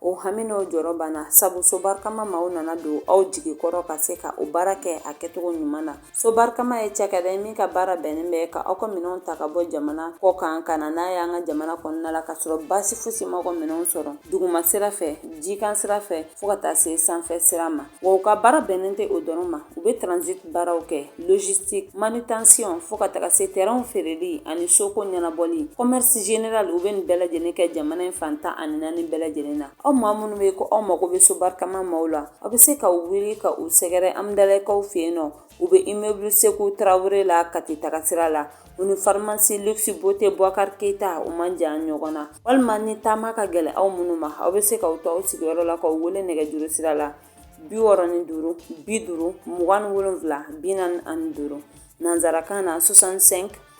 o hami n'o jɔrɔ banna sabu so barikama maaw nana don aw jigi kɔrɔ ka se ka o baara kɛ a kɛcogo ɲuman na so barikama ye cakɛda ye min ka baara bɛnnen bɛ ka aw ka minɛnw ta ka bɔ jamana kɔ kan ka na n'a y'an ka jamana kɔnɔna la ka sɔrɔ baasi fosi ma aw ka minɛnw sɔrɔ duguma sira fɛ jikan sira fɛ fɔɔ ka taa se sanfɛ sira ma Wa u ka baara bɛnnen tɛ o dɔrɔn ma u bɛ transit baaraw kɛ logistique manutention fo ka taga se terrain feereli ani soko ɲɛnabɔli commerce général u bɛ nin bɛɛ lajɛlen kɛ jamana in fan tan ani naani bɛɛ lajɛlen na aw maa minnu bɛ ko aw mago bɛ so barikama maaw la aw bɛ se ka aw wuli ka u sɛgɛrɛ Hamdallayekaw fɛ yen nɔ U bɛ immeuble Sekou Traore la Kati tagasira la, u ni pharmacie luxe beauté Bouakar Keita u man jan ɲɔgɔn na, walima ni taama ka gɛlɛn aw minnu ma, aw bɛ se k'aw to aw sigiyɔrɔ la k'u wele nɛgɛjuru sira la 65 50 27 45 nansarakan na 65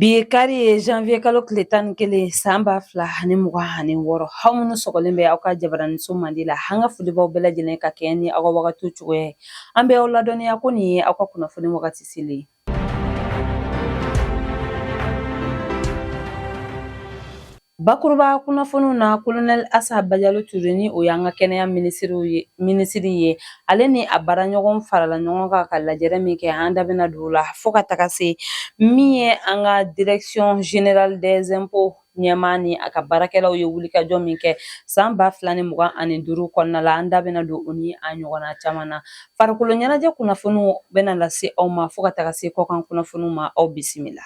Bi ye kari ye janvier kalo tile tan ni kelen san ba fila ani mugan ani wɔɔrɔ aw minnu sɔgɔlen bɛ aw ka jabaraniso mandi la an ka foli b'aw bɛɛ lajɛlen ka kɛɲɛ ni aw ka wagatiw cogoya ye an bɛ aw ladɔnniya ko nin ye aw ka kunnafoni wagati selen ye Bakuruba kunnafoniw na kolonɛli asa bajalo ture ni o y'an ka kɛnɛya miri minisiri ye ale ni a baaraɲɔgɔn farala ɲɔgɔn kan ka lajɛrɛ min kɛ an da bɛna don o la fɔɔ ka taga se min ye an ka direction générale des impôts ɲɛmaa ni a ka baarakɛlaw ye wulikajɔ min kɛ san ba fila ni mugan ani duuru kɔnɔna la an da bɛna don o ni a ɲɔgɔnna caman na Farikolo ɲɛnajɛ kunnafoniw bɛna lase aw ma fo ka taga se kɔkan kunnafoniw ma aw bisimila.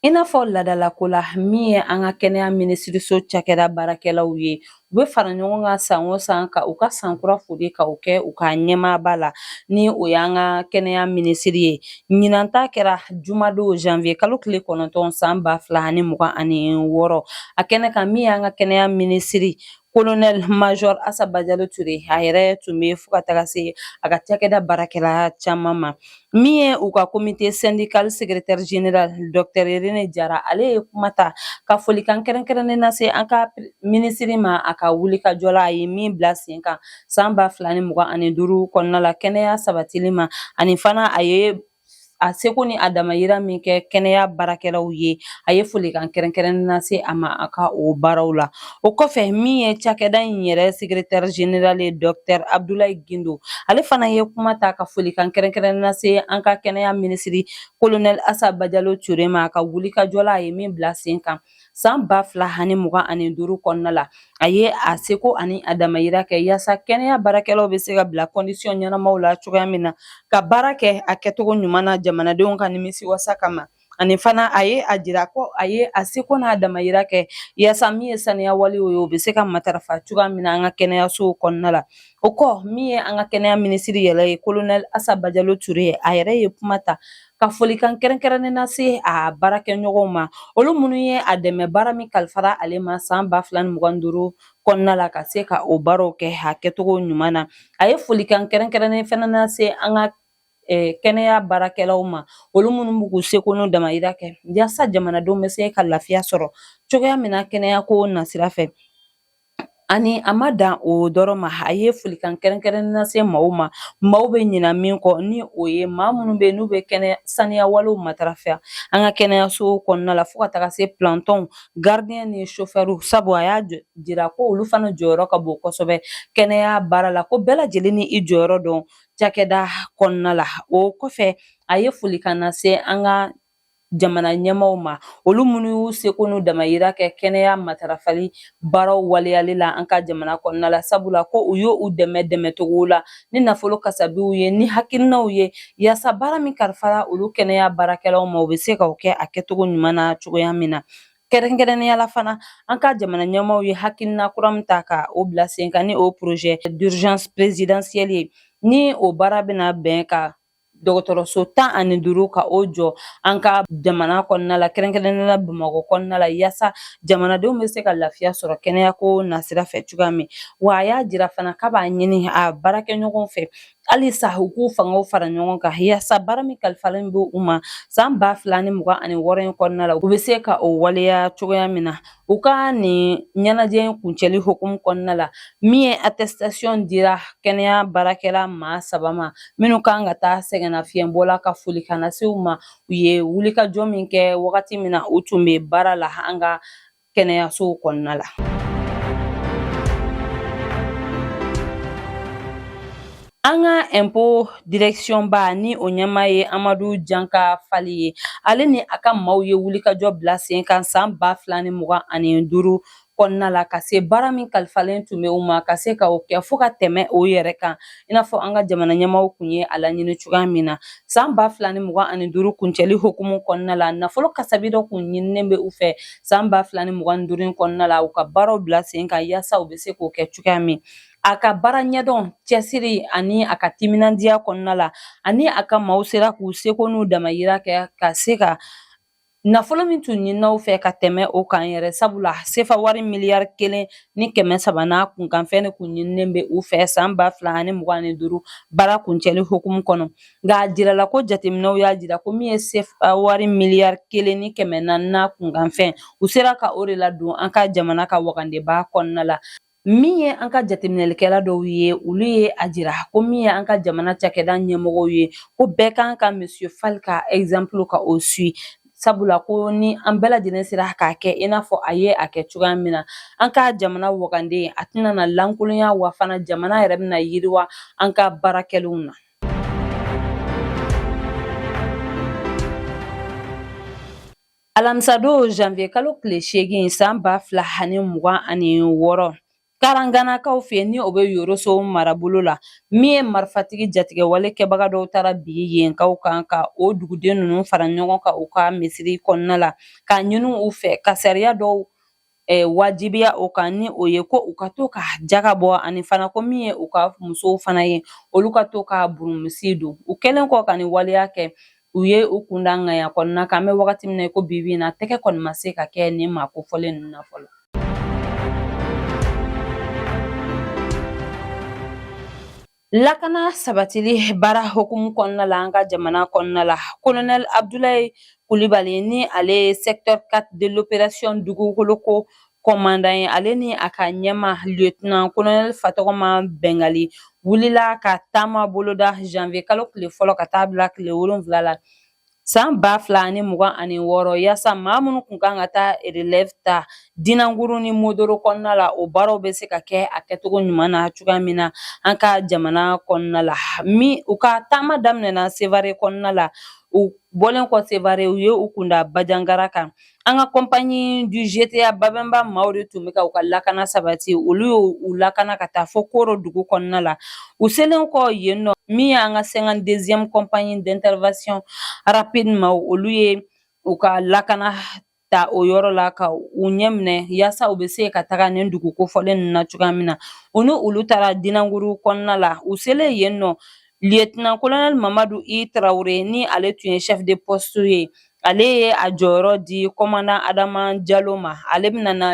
I n'a fɔ ladalako la min ye an ka kɛnɛya minisiriso cakɛda baarakɛlaw ye u bɛ fara ɲɔgɔn kan san o san ka u ka san kura folikanw kɛ u ka ɲɛmaaba la ni o y'an ka kɛnɛya minisiri ye Ɲinan ta kɛra jumadon janvier kalo tile kɔnɔntɔn san ba fila ani mugan ani wɔɔrɔ a kɛnɛ kan min y'an ka kɛnɛya minisiri kolonɛl major asa bajalo ture a yɛrɛ tun bɛ fo ka taga se a ka cakɛda baarakɛla caman ma min ye u ka komite sɛndikal sekretɛri general dɔktɛr rene jara ale ye kuma ta ka folikan kɛrɛnkɛrɛnnen lase an ka minisiri ma a ka wulikajɔ la a ye min bila sen kan san ba fila ni mugan ani duuru kɔnɔna la kɛnɛya sabatili ma ani fana a ye a seko ni a damayira min kɛ kɛnɛya baarakɛlaw ye a ye folikan kɛrɛnkɛrɛnnen lase a ma a ka o baaraw la o kɔfɛ min ye cakɛda in yɛrɛ sekretɛri general ye dɔktɛr abdulayi gindo ale fana ye kuma ta ka folikan kɛrɛnkɛrɛnnen lase an ka kɛnɛya minisiri kolonɛl asa bajalo ture ma a ka wulikajɔ la a ye min bila sen kan san ba fila ani mugan ani duuru kɔnɔna la a ye a seko ani a damayira kɛ yaasa kɛnɛya baarakɛlaw bɛ se ka bila kɔndisiyɔn ɲɛnamaw la cogoya min na ka baara kɛ a kɛcogo ɲuman na jamanadenw ka nimisi wasa kama ani fana a ye a jira ko a ye a seko n'a damayira kɛ yaasa min ye saniya walew ye o bɛ se ka matarafa cogoya min na an ka kɛnɛyasow kɔnɔna la o kɔ min ye an ka kɛnɛya minisiri yɛrɛ ye kolonɛli asa bajalo ture a yɛrɛ ye kuma ta ka folikan kɛrɛnkɛrɛnnen lase a baarakɛɲɔgɔnw ma olu minnu ye a dɛmɛ baara min kalifara ale ma san ba fila ni mugan duuru kɔnɔna la ka se ka o baaraw kɛ a kɛcogo ɲuman na a ye folikan kɛrɛnkɛrɛnnen fana lase an ka eh, kɛnɛya baarakɛlaw ma olu minnu b'u k'u seko n'u damayira kɛ yaasa jamanadenw bɛ se ka lafiya sɔrɔ cogoya min na kɛnɛyako nasira fɛ Ani a ma dan o dɔrɔn ma a ye folikan kɛrɛnkɛrɛnnen lase maaw ma maaw bɛ ɲina min kɔ ni o ye maa minnu bɛ n'u bɛ kɛnɛ saniya walew matarafa an ka kɛnɛyaso kɔnɔna la fo ka taga se plantɔnw garidiyɛn ni sofɛriw sabu a y'a jira ko olu fana jɔyɔrɔ ka bon kosɛbɛ kɛnɛya baara la ko bɛɛ lajɛlen ni i jɔyɔrɔ don cakɛda kɔnɔna la o kɔfɛ a ye folikan lase an ka jamana ɲɛmaaw ma olu minnu y'u seko n'u damayira kɛ kɛnɛya matarafali baaraw waleyali la an ka jamana kɔnɔna la sabula ko u y'olu dɛmɛ dɛmɛcogo la ni nafolo kasabiw ye ni hakilinaw ye yaasa baara min kalifara olu kɛnɛya baarakɛlaw ma u bɛ se ka o kɛ a kɛcogo ɲuman na cogoya min na kɛrɛnkɛrɛnnenya la fana an ka jamana ɲɛmaaw ye hakilina kura min ta ka o bila sen kan ni o projet d'urgence présidentielle ye ni o baara bɛna bɛn ka dɔgɔtɔrɔso tan ani duuru ka o jɔ an ka jamana kɔnɔna la kɛrɛnkɛrɛnnenya la bamakɔ kɔnɔna la yaasa jamanadenw bɛ se ka lafiya sɔrɔ kɛnɛyako nasira fɛ cogoya min wa a y'a jira fana k'a b'a ɲini a baarakɛɲɔgɔn fɛ halisa u k'u fangaw fara ɲɔgɔn kan yaasa baara min kalifalen bɛ u ma san ba fila ni mugan ani wɔɔrɔ in kɔnɔna la u bɛ se ka o waleya cogoya min na U ka nin ɲɛnajɛ in kuncɛli hukumu kɔnɔna la min ye attestation dira kɛnɛya baarakɛla maa saba ma minnu kan ka taa sɛgɛnnafiɲɛbɔ la ka folikan lase u ma u ye wulikajɔ min kɛ wagati min na u tun bɛ baara la an ka kɛnɛyasow kɔnɔna la An ka ɛnpo dirɛkisiyɔnba ni o ɲɛmaa ye amadu janka fali ye ale ni a ka maaw ye wulikajɔ bila sen kan san ba fila ni mugan ani duuru kɔnɔna la ka se baara min kalifalen tun bɛ u ma ka se ka o kɛ fo ka tɛmɛ o yɛrɛ kan i n'a fɔ an ka jamana ɲɛmaaw tun ye a laɲini cogoya min na san ba fila ni mugan ani duuru kuncɛli hukumu kɔnɔna la nafolo kasabi dɔ tun ɲininen bɛ u fɛ san ba fila ni mugan duuru kɔnɔna la u ka baaraw bila sen kan yaasa u bɛ se k'o kɛ cogoya min a ka baara ɲɛdɔn cɛsiri ani a ka timinandiya kɔnɔna la ani a ka maaw sera k'u seko n'u damayira kɛ ka se ka nafolo min tun ɲinina u fɛ ka tɛmɛ o kan yɛrɛ sabula sefa wari miliyari kelen ni kɛmɛ saba n'a kunkanfɛn de kun ɲininen bɛ u fɛ saan ba fila ani mugan ni duuru baara kuncɛli hukumu kɔnɔ nka a jirala ko jateminɛw y'a jira ko min ye sefa wari miliyari kelen ni kɛmɛ naani n'a kunkanfɛn u sera ka o de ladon an ka jamana ka wagandeba kɔnɔna la Min ye an ka jateminɛlikɛla dɔw ye olu ye a jira ko min ye an ka jamana cakɛda ɲɛmɔgɔw ye ko bɛɛ kan ka monsieur fal ka exemple ka o suit sabula ko ni an bɛɛ lajɛlen sera k'a kɛ i n'a fɔ a ye a kɛ cogoya min na an ka jamana wagande a tɛna na lankolonya wa fana jamana yɛrɛ bɛna yiriwa an ka baara kɛlenw na Alamisa don janvier kalo tile seegin san ba fila ani mugan ani wɔɔrɔ karanganakaw fɛ ni o bɛ yoroso marabolo la min ye marifatigi jatigɛwale kɛbaga dɔw taara bin yenkaw kan ka o duguden ninnu fara ɲɔgɔn kan u ka misiri kɔnɔna la ka ɲini u fɛ ka sariya dɔw wajibiya o kan ni o ye ko u ka to ka jaga bɔ ani fana ko min ye u ka musow fana ye olu ka to ka burumusi don u kɛlen kɔ ka nin waleya kɛ u ye u kun da ŋaya kɔnɔna kan an bɛ wagati min na i ko bi bi in na tɛgɛ kɔni ma se ka kɛ nin maa kofɔlen ninnu na fɔlɔ Lakana sabatili baara hukumu kɔnɔna la an ka jamana kɔnɔna la kolonɛli abudulayi kulibali ni ale ye secteur 4 de l'opération dugukoloko kɔmandan ye ale ni a ka ɲɛmaa lieutenant kolonɛli fatɔgɔma bɛngali wulila ka taama boloda janvier kalo tile fɔlɔ ka taa bila tile wolonwula la San ba fila ni mugan ani wɔɔrɔ yaasa maa minnu tun kan ka taa relève ta dinanguru ni modoro kɔnɔna la o baaraw bɛ se ka kɛ a kɛcogo ɲuman na cogoya min na an ka jamana kɔnɔna la min u ka taama daminɛna sevare kɔnɔna la u bɔlen kɔ sevare u ye u kun da bajangara kan An ka compagnie du GTA babɛnba maaw de tun bɛ ka u ka lakana sabati olu y' u lakana ka taa fo koro dugu kɔnɔna la u selen kɔ yen nɔ min y'an ka cinquante-deuxième compagnie d'intervention rapide maa olu ye u ka lakana ta o yɔrɔ la ka u ɲɛ minɛ yaasa u bɛ se ka taga nin dugu kofɔlen ninnu na cogoya min na u ni olu taara dinanguru kɔnɔna la u selen yen nɔ lieutenant kolonɛli mamadu i tarawele ni ale tun ye chef de poste ye ale ye a jɔyɔrɔ di kɔmandan adama jalo ma ale bɛna na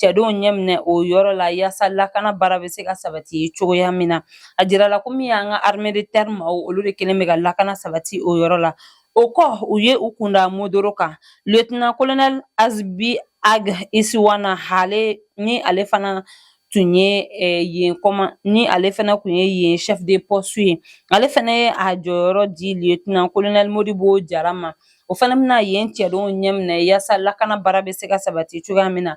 cɛdenw ɲɛminɛ o yɔrɔ la yaasa lakana baara bɛ se ka sabati cogoya min na a jirala ko min y'an ka armée de terre maaw olu de kelen bɛ ka lakana sabati o yɔrɔ la o kɔ u ye u kun da modoro kan lieutenant kolonɛli azibi ag isiwana hale ni ale fana tun ye yen kɔma ni ale fana tun ye yen chef de poste ye ale fana ye a jɔyɔrɔ di lieutenant colonel Modibo Jara ma o fana bɛna yen cɛdenw ɲɛminɛ yaasa lakana baara bɛ se ka sabati cogoya min na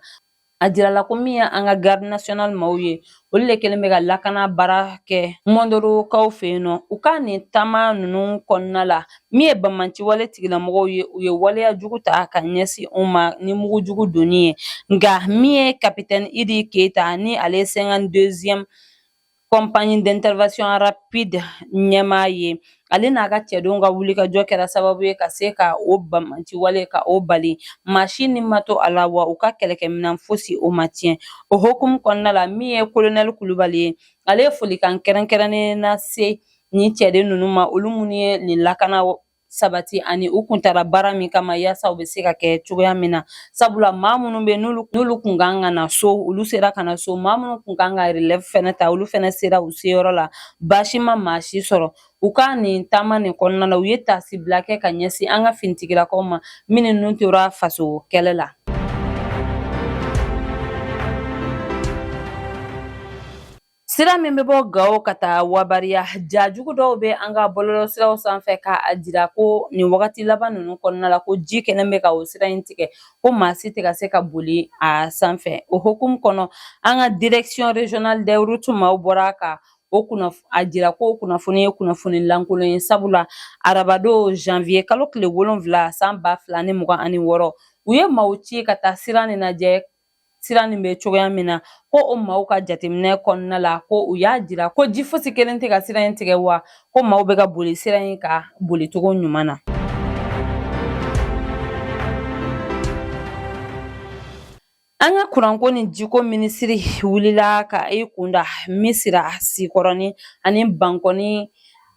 a jirala ko min ye an ka garde nationale maaw ye olu de kɛlen bɛ ka lakana baara kɛ Mondorokaw fɛ yen nɔ u ka nin taama ninnu kɔnɔna la Min ye bamanciwale tigilamɔgɔw ye u ye waleya jugu ta ka ɲɛsin u ma ni mugujugu donni ye nka min ye capitaine Idi Keyita ni ale ye cinquante-deuxième compagnie d'intervention rapide ɲɛmaa ye ale n'a ka cɛdenw ka wulikajɔ kɛra sababu ye ka se ka o bamanciwale ka o bali maa si ni ma to a la wa u ka kɛlɛkɛminɛn fosi o ma tiɲɛ o hukumu kɔnɔna la min ye kolonɛli kulubali ye ale ye folikan kɛrɛnkɛrɛnnen lase ni cɛden ninnu ma olu minnu ye nin lakana sabati ani u kun taara baara min kama yaasa u bɛ se ka kɛ cogoya min na sabula maa minnu bɛ n'olu kun kan ka na so olu sera ka na so maa minnu kun kan ka relève fɛnɛ ta olu fɛnɛ sera u seyɔrɔ la baasi ma maa si sɔrɔ u ka nin taama nin kɔnɔna la u ye taasibila kɛ ka ɲɛsin an ka finitigilakaw ma minnu ni tora faso kɛlɛ la Sira min bɛ bɔ Gawo ka taa Wabariya ja jugu dɔw bɛ an ka bɔlɔlɔsiraw sanfɛ k'a jira ko nin wagati laban ninnu kɔnɔna la ko ji kɛlen bɛ ka o sira in tigɛ ko maa si tɛ ka se ka boli a sanfɛ o hukumu kɔnɔ an ka direction régionale des routes maaw bɔra ka a jira ko kunnafoni ye kunnafoni lankolon ye sabula arabadon janvier kalo tile wolonfila san ba fila ni mugan ani wɔɔrɔ u ye maaw ci ka taa sira nin lajɛ sira nin bɛ cogoya min na ko o maaw ka jateminɛ kɔnɔna la ko u y'a jira ko ji fosi kɛlen tɛ ka sira in tigɛ wa ko maaw bɛ ka boli sira in kan bolicogo ɲuman na an ka kuranko ni jiko minisiri wulila ka i kunda Misira Sikɔrɔni ani Bankɔni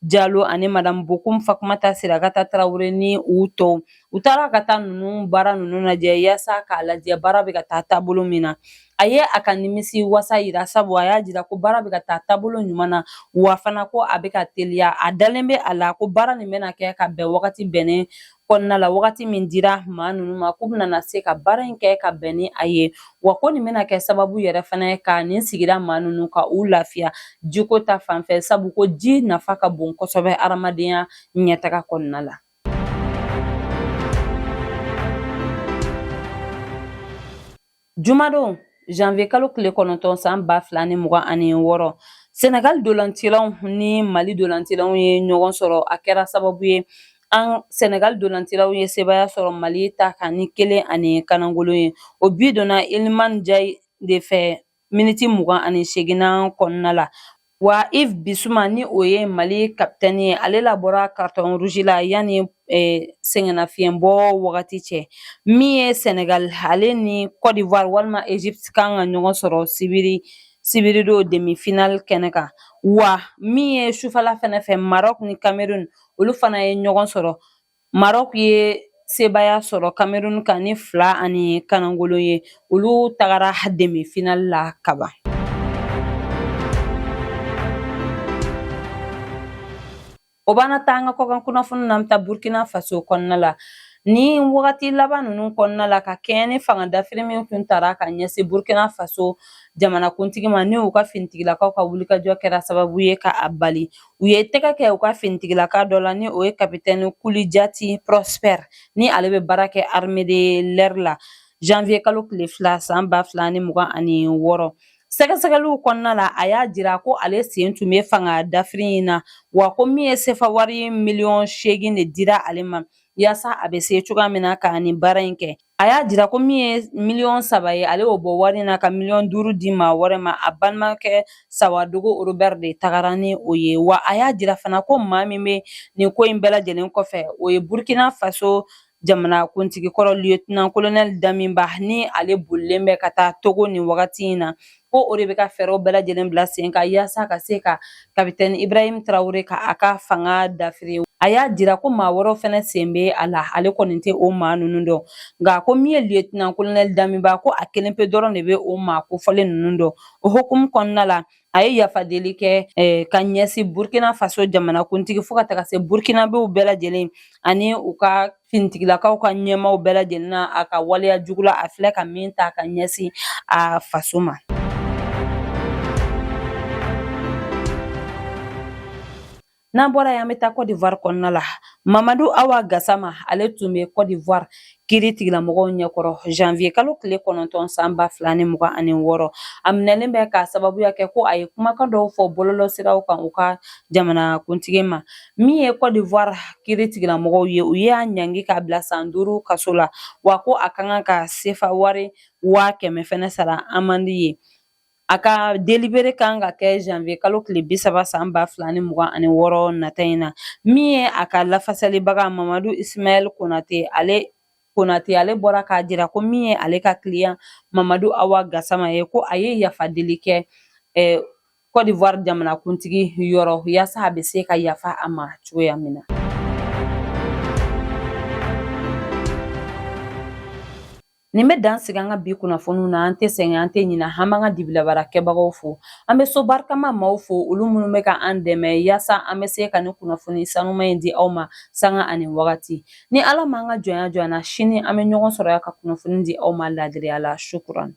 Jalo ani madamu Bokum Fatumata Sirakata Tarawele ni u tɔw u taara ka taa ninnu baara ninnu lajɛ yaasa k'a lajɛ baara bɛ ka taa taabolo min na a ye a ka nimisiwasa jira sabu a y'a jira ko baara bɛ ka taa taabolo ɲuman na wa fana ko a bɛ ka teliya a dalen bɛ a la ko baara nin bɛna kɛ ka bɛn wagati bɛnnen kɔnɔna la wagati min dira maa ninnu ma k'u bɛna se ka baara in kɛ ka bɛn ni a ye wa ko nin bɛna kɛ sababu yɛrɛ fana ye ka nin sigira maa ninnu ka u lafiya jiko ta fanfɛ sabu ko ji nafa ka bon kosɛbɛ adamadenya ɲɛtaga kɔnɔna la Jumadon janvier kalo tile kɔnɔntɔn san ba fila ni mugan ani wɔɔrɔ senegal dolancilaw ni mali dolancilaw ye ɲɔgɔn sɔrɔ a kɛra sababu ye an senegal dolancilaw ye sebaya sɔrɔ mali ta kan ni kelen ani kanangolo ye o bi donna iliman ndiaye de fɛ miniti mugan ani seginan kɔnɔna la Wa Yves Bissouma ni o ye mali kapitɛni ye ale labɔra carton rouge la yan ni sɛgɛnnafiɲɛbɔ wagati cɛ min ye senegal ale ni Côte d'Ivoire walima Egypte kan ka ɲɔgɔn sɔrɔ sibiri sibiridon demi final kɛnɛ kan wa min ye sufala fɛnɛ fɛ Maroc ni Cameroun olu fana ye ɲɔgɔn sɔrɔ Maroc ye sebaaya sɔrɔ Cameroun kan ni fila ani kanangolo ye olu tagara demi final la kaban. O b'an na taa an ka kɔkan kunnafoni na an bɛ taa Burkina Faso kɔnɔna la. Ni wagati laban ninnu kɔnɔna la ka kɛɲɛ ni fanga dafiri min tun tara ka ɲɛsin burkina faso jamanakuntigi ma ni u ka finitigilakaw ka wulikajɔ kɛra sababu ye ka a bali u ye tɛgɛ kɛ u ka finitigilaka dɔ la ni o ye kapitɛni kulijati prosper ni ale bɛ baara kɛ armée de l'air la janviye kalo tile fila san ba fila ni mugan ani wɔɔrɔ sɛgɛsɛgɛliw kɔnɔna la a y'a jira ko ale sen tun bɛ fanga dafiri in na wa ko min ye sefa wari miliyɔn seegin de dira ale ma yaasa a bɛ se cogoya min na ka nin baara in kɛ a y'a jira ko min ye miliyɔn saba ye ale y'o bɔ wari in na ka miliyɔn duuru di maa wɛrɛ ma a balimakɛ sawadogo robert de tagara ni o ye wa a y'a jira fana ko maa min bɛ nin ko in bɛɛ lajɛlen kɔfɛ o ye burkina faso jamanakuntigi kɔrɔ lieutenant colonel damiba ni ale bolilen bɛ ka taa togo nin wagati in na ko o de bɛ ka fɛɛrɛw bɛɛ lajɛlen bila sen kan yaasa ka se ka kapitɛni ibrahim traoré ka a ka fanga dafiri a y'a jira ko maa wɛrɛw fɛnɛ sen be a la ale kɔni tɛ o maa nunu dɔn nka ko min ye lieutenant colonel damiba ko a kelen pe dɔrɔn de be o maa kofɔlen nunu dɔn o hukumu kɔnɔna la a ye yafadeli kɛ eh, ka ɲɛsi burkina faso jamanakuntigi fo ka taga se burkinabew bɛɛ lajɛlen ani u ka finitigilakaw ka ɲɛmaaw bɛɛ lajɛlen na a ka waleya jugu la a filɛ ka min ta ka ɲɛsin a faso ma n'an bɔra yan an bɛ taa Côte d'Ivoire kɔnɔna la Mamadu Awa Gasama ale tun bɛ Côte d'Ivoire kiritigɛlamɔgɔw ɲɛkɔrɔ janvier kalo tile kɔnɔntɔn san ba fila ni mugan ani wɔɔrɔ a minɛlen bɛ k'a sababuya kɛ ko a ye kumakan dɔw fɔ bɔlɔlɔsiraw kan u ka jamanakuntigi ma Min ye Cote d'Ivoire kiiri tigilamɔgɔw ye u y'a ɲangi k'a bila san duuru kaso la wa ko a ka kan ka sefa wari waa kɛmɛ fɛnɛ sara amandi ye a ka delibere kan ka kɛ janvier kalo tile bi saba san ba fila ni mugan ani wɔɔrɔ nata in na min ye a ka lafasalibaga mamadu ismaɛl konate ale bɔra k'a jira ko min ye ale ka kiliyan mamadu awa gasama ye ko a ye yafa deli kɛ eh, Kɔdiwari jamanakuntigi yɔrɔ yaasa a bɛ se ka yafa a ma cogoya min na nin bɛ dan sigi an ka bi kunnafoniw na an tɛ sɛgɛn an tɛ ɲina an b'an ka dibilabaara kɛbagaw fo an bɛ so barikama maaw fo olu minnu bɛ ka an dɛmɛ yaasa an bɛ se ka nin kunnafoni sanuma in di aw ma sanga ani wagati ni ala m'an ka jɔnya jɔ an na sini an bɛ ɲɔgɔn sɔrɔ yan ka kunnafoni di aw ma laadiriya la shukuran